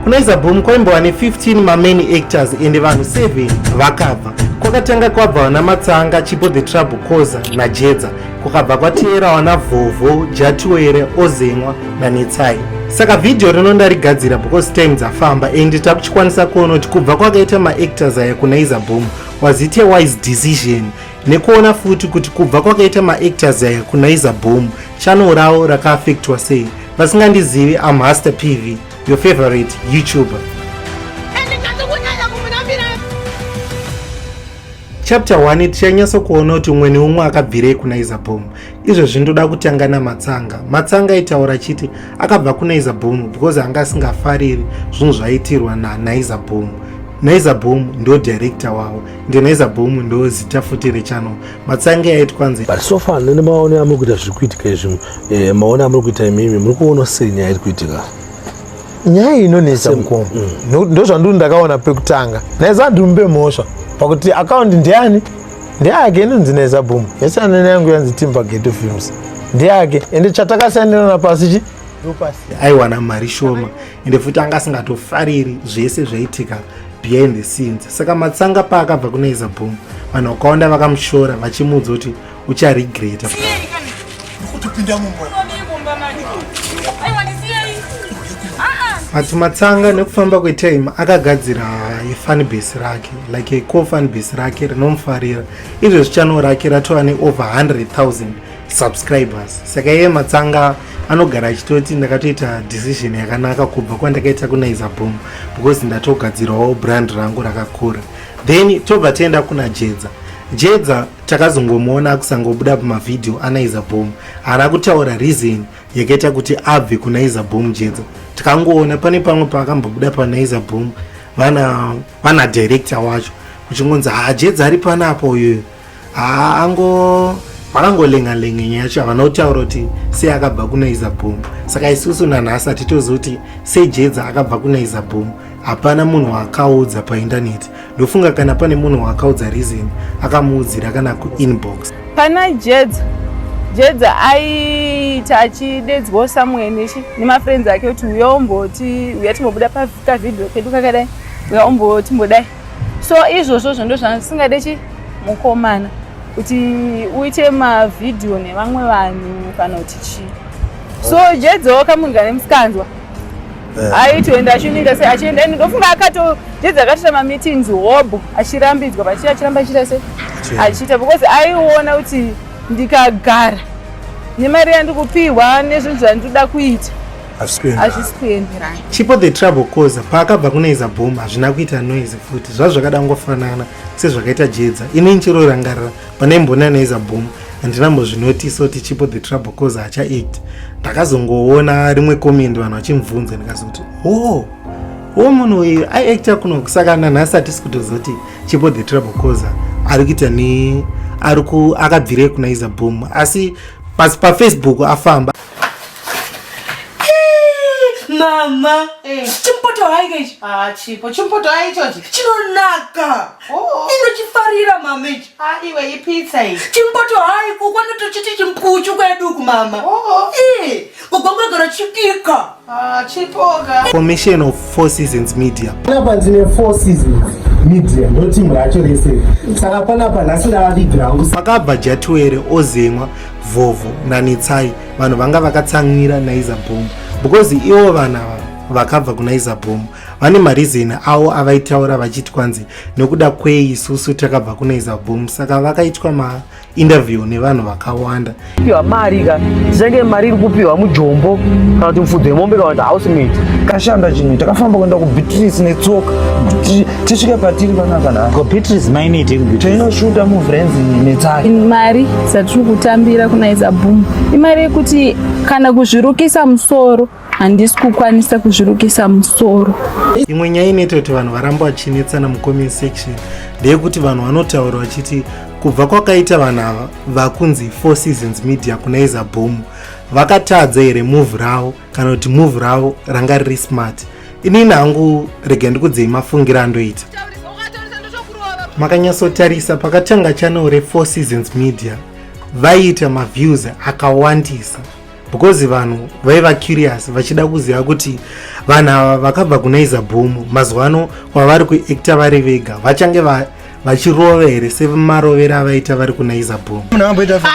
kunaiza boom kwaimbova ne15 mamain actors ende vanhu 7 vakabva kwakatanga kwabva vana matsanga chipo the trouble coza najedza kukabva kwateera wana vhovho jatiwere ozemwa nanetsai saka vhidhiyo rino ndarigadzira because time dzafamba and takuchikwanisa kuona kuti kubva kwakaita maactors aya kunaiza boom was it a wise decision nekuona futi kuti kubva kwakaita maactors aya kunaiza boom chano rawo rakaafektwa sei vasingandizivi amhaster pv Your favorite YouTuber. Chapter 1 tichanyatso kuona kuti umwe neumwe akabvirei kuna Izabomu. Izvezvi ndoda kutanga naMatsanga. Matsanga aitaura chiti akabva kuna Izabomu because anga asingafariri zvinhu zvaitirwa na naIzabomu. NaizaBoom ndo director wavo ende NaizaBoom ndo zita futi rechannel matsange aiti kwanzi but so far nene maone amuri kuita zviri kuitika izvi eh, maone amuri kuita imimi muri kuona sei nyaya iri kuitika nyaya inonetsa mukoma mm. mm. ndozvandiri ndakaona pekutanga naiza ndimbe mhosva pakuti akaundi ndiyani ndeyake inonzi naiza boom yasanana yangu yanzi timba geto films ndeyake ende chatakasiyanirana pasi chi aiwana mari shoma ende futi anga asingatofariri zvese zvaitika behind the scenes saka matsanga paakabva kunaiza boom vanhu vakawanda vakamushora vachimuudza kuti ucharegreta asi matsanga nekufamba kwetime akagadzira fanbase rake like co fanbase rake rinomufarira izvezvi channel rake ratova ne over 100 000 subscribers saka iye matsanga anogara achitoti ndakatoita decision yakanaka kubva kwandakaita kunaiza boom because ndatogadzirawo brand rangu rakakura then tobva tienda kuna jedza jedza takazongomuona akusangobuda pamavhidhiyo anaiza boom haana kutaura reason yakaita kuti abve kunaiza boom jedza tikangoona pane pamwe paakambobuda panaiza boom vana vana director wacho uchingonzi hajedza ari panapa uyoyo haa ango vakangolenga lenga nyaya yacho havana kutaura kuti sei akabva kuna izabhomu saka isusu nanhasi hatitozi kuti sei jedza akabva kuna izabhomu hapana munhu waakaudza paindaneti ndofunga kana pane munhu waakaudza reason akamuudzira kana kuinbox pana jedza jedza aiita achidedzwawo somewhere nechi nemafriends ake kuti uya umboti uya timbobuda pakavideo kedu kakadai uya umboti mbodai so izvozvo zvo ndozvandisingade chi mukomana kuti uite mavhidhiyo nevamwe vanhu kana kuti chii so jedzawo kamunhu kane musikanzwa eh. aitoenda achiuninga se achienda ini ndofunga akato jedza akatoita mameetings hobho achirambidzwa pachii achiramba achiita se achiita because aiona kuti ndikagara nemari yandikupiwa nezvinhu zvandinoda kuita hazvisi kuenderana chipo the trouble causer paakabva kuneiza boom hazvina kuita noise futi zvazvakada ngofanana sezvakaita jedza ini nchero rangarira pane mbona neiza boom handinambozvinotiso kuti chipo the trouble causer hachaiti ndakazongoona rimwe comment vanhu vachimubvunza ndikazoti oh wo munhu uyu aiacta kuno saka nanhasi atisi kutozoti chipo the trouble causer ari kuita ne ari akabvirei kunaiza boom asi pasi pafacebook afamba mama eh. chimpoto haika ichi ah, chipo chimpoto hai ichochi chinonaka oh. inochifarira mama ichi ah, iwe ipitsa iyi chimpoto hai kukwana tochiti chimpuchu kweduku mama oh. oh. Eh, kugomagara chibika Ah, chipoka. Formation of Four Seasons Media. Panapa ndine Four Seasons Media ndotimu racho rese saka panapa nhasi ndavavigira hangu. Pakabva Jatuwere ozemwa Vhovho naNetsai vanhu vanga vakatsamwira Naiza Boom because ivo vana vakabva kuNaiza Boom vane marizeni awo avaitaura vachiti kwanzi nekuda kwei isusu takabva kuNaiza Boom saka vakaitwa ma interview nevanhu vakawanda piwa mari ka senge mari iri kupiwa mujombo kana kuti mufudzi wemombe kana kuti house mate kashanda chinhu takafamba kuenda kubeatrice netsoka kuti tisvike patiri panaka na ko beatrice mainiti tinoshuta muvrenzi netsaki mari dzatiri kutambira kunaiza boom imari yekuti kana kuzvirukisa musoro handisi kukwanisa kuzvirukisa musoro imwe nyaya inoita kuti vanhu varamba vachinetsana mucomment section ndeyekuti vanhu vanotaura vachiti kubva kwakaita vanhu ava vakunzi four seasons media kuna iza bhomu vakatadza here move ravo kana kuti move ravo ranga riri smart inini hangu rega ndikudzei mafungiro andoita makanyatsotarisa pakatanga channel refour seasons media vaiita maviews akawandisa because vanhu vaiva curious vachida kuziva kuti vanhu ava vakabva kuna izabhomu mazuva ano kwavari kuacta vari vega vachange vachirova here semarovero avaita vari kuna izabhomu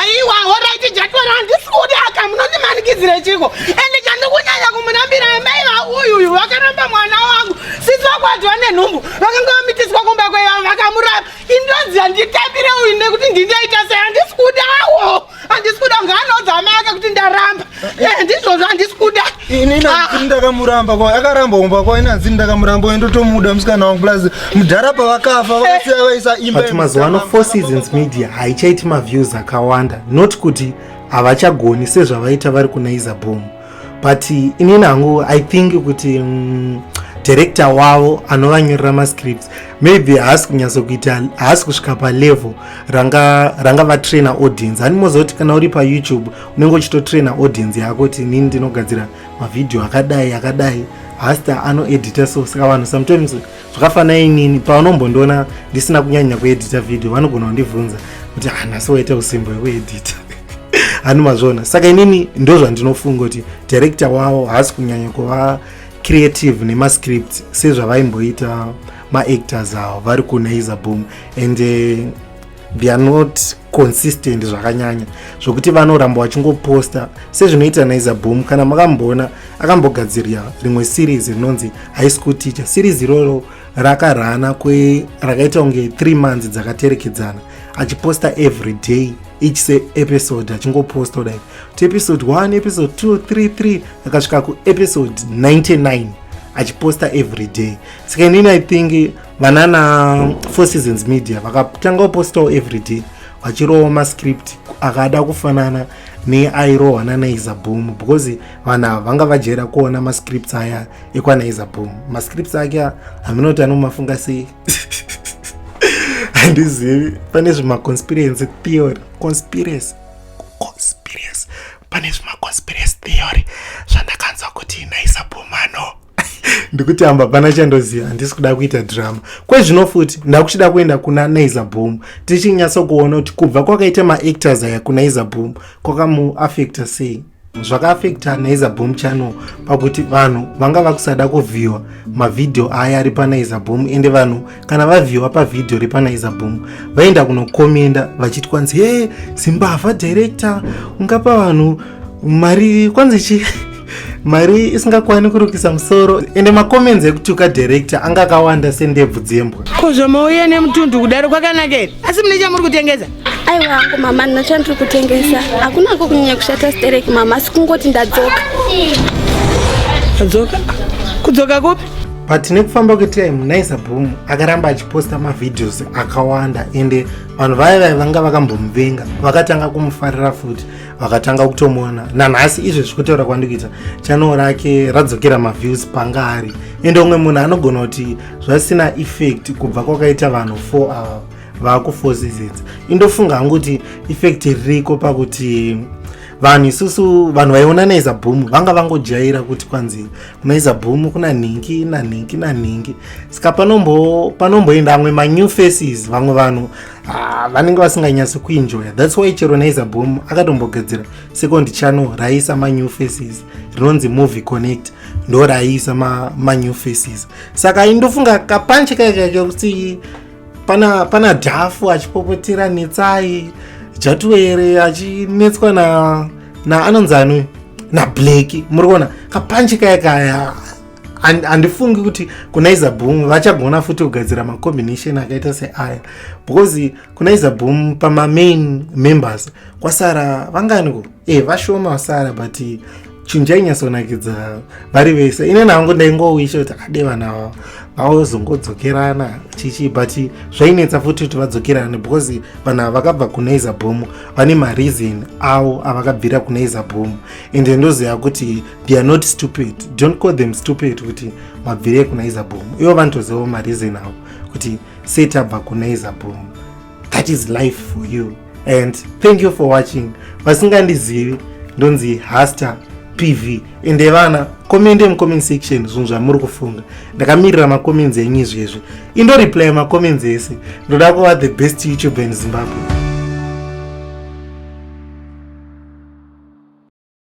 aiwa horaiti jatwera handisi kuti aka munondimanikidzire chiko ende chandikunyanya kumunambira amai vauyuyu vakaramba mwana wangu sisi vakwadzwa nenhumbu vakanga vamitiswa kumba kwevavo vakamuramba indoziva nditambire uyu nekuti ndindaita sei handisi kudawo handisi kuda kunge anoudza amai ake kuti ndaramba eh, eh, ndizvozvo handisi kuda ini inanzini ah. ndakamuramba kwa akaramba umba kwa inanzini ndakamuramba uye ndotomuda musikana wangu plus mudhara pavakafa vakasiya eh. vaisa imba but mazuva ano four seasons media haichaiti maviews akawanda not kuti havachagoni sezvavaita vari kuna izabhomu but inini hangu i think kuti mm, director wavo anovanyorera mascripts maybe haasi kunyatso kuita haasi kusvika palevel ranga ranga vatrainer audience hani mozoti kana uri payoutube unenge uchitotrainer audience yako kuti inini ndinogadzira mavhidhiyo akadai akadai hasta anoedita so saka vanhu sometimes zvakafana inini pavanombondiona ndisina kunyanya kuedita vhidhiyo vanogona kundibvunza kuti hanasi ah, waita usimbo yekuedita hani mazvona saka inini ndozvandinofunga kuti director wavo haasi kunyanya kuva creative nemascript sezvavaimboita maactors avo vari kunaiza boom and uh, they are not consistent zvakanyanya zvokuti vanoramba vachingoposta sezvinoita naiza boom kana makamboona akambogadzirira rimwe series rinonzi high school teacher series iroro rakarana kwe rakaita kunge 3 months dzakaterekedzana achiposta every day each se episode achingoposta kudai to episode 1 episode 2 3 3 akasvika kuepisode 99 achiposta every day saka inini i think vanana four seasons media vakatanga upostawo everyday vachirowa mascript akada kufanana neairohwa nanaiza boom because vanhu ava vanga vajera kuona mascripts aya ekwanaiza boom mascripts ake haminoti anomafunga sei handizivi pane zvemaconspiracy theory conspiracy conspiracy pane zvemaconspiracy theory zvandakanzwa kuti naisa boom ano ndikuti amba pana chandoziva handisi kuda kuita drama kwezvino futi ndakuchida kuenda kuna naiza boom tichinyatso kuona kuti kubva kwakaita maactors aya kunaiza boom kwakamuafecta sei zvakaafecta naiza boom channel pakuti vanhu vanga vakusada kuvhiwa mavhidhiyo aya ari panaiza boom ende vanhu kana vavhiwa pavhidhiyo repanaiza boom vaenda kunokomenda vachiti kwanzi he zimbavha director ungapa vanhu mari kwanzi chi mari isingakwani kurukisa musoro ende macomments ekutuka director anga akawanda sendebvu dzembwa ko zvamauya nemutundu kudaro kwakanaka here asi mune chamuri kutengesa aiwa hangu mama ndina chandiri kutengesa hakuna ko kunyanya kushata sterek mama asi kungoti ndadzoka adzoka kudzoka kupi but nekufamba kwetime naisa boom akaramba achiposta mavideos akawanda ende vanhu vaya vaya vanga vakambomuvenga vakatanga kumufarira futi vakatanga kutomuona nanhasi izvo zvikutaura kwandikuita chanel rake radzokera maviews panga ari ende umwe munhu anogona kuti zvasina effect kubva kwakaita vanhu 4 ava vakufosizidza indofunga hangu kuti effect ririko pakuti vanhu isusu vanhu vaiona naiza boom vanga vangojaira kuti kwanzi Maiza boom kuna nhingi na nhingi na nhingi saka panombo panomboenda amwe ma new faces vamwe vanhu ah, vanenge vasinganyasi kuenjoya that's why chero naiza boom akatombogadzira second channel raisa ma new faces rinonzi movie connect ndo raisa ma, ma new faces saka indofunga kapanche kaikaika kuti pana pana dhafu achipopotera netsai jatuwere achinetswa na na anonzi ani nablaki muri kuona kapanchi kaya kaya handifungi kuti kunaiza boom vachagona futi kugadzira macombination akaita seaya because kunaiza boom pamamain members kwasara vanganiko e eh, vashoma vasara but chinhu chainyatsonakidza vari vese ine nangu ndaingowisha kuti akade vana vavo vaozongodzokerana chichi but zvainetsa futi kuti vadzokerane because vanhu ava vakabva kuna izabhomu vane mareason avo avakabvira kuna izabhomu and ndoziva kuti they are not stupid don't call them stupid kuti mabvire kuna izabhomu ivo vanotozivawo mareason avo kuti setabva kuna izabhomu that is life for you and thank you for watching vasingandizivi ndonzi haster pv ende vana komende mucomment section zvinhu zvamuri kufunga ndakamirira macomments enyu izvezvi indoreply macomments ese ndoda kuva the best youtuber in zimbabwe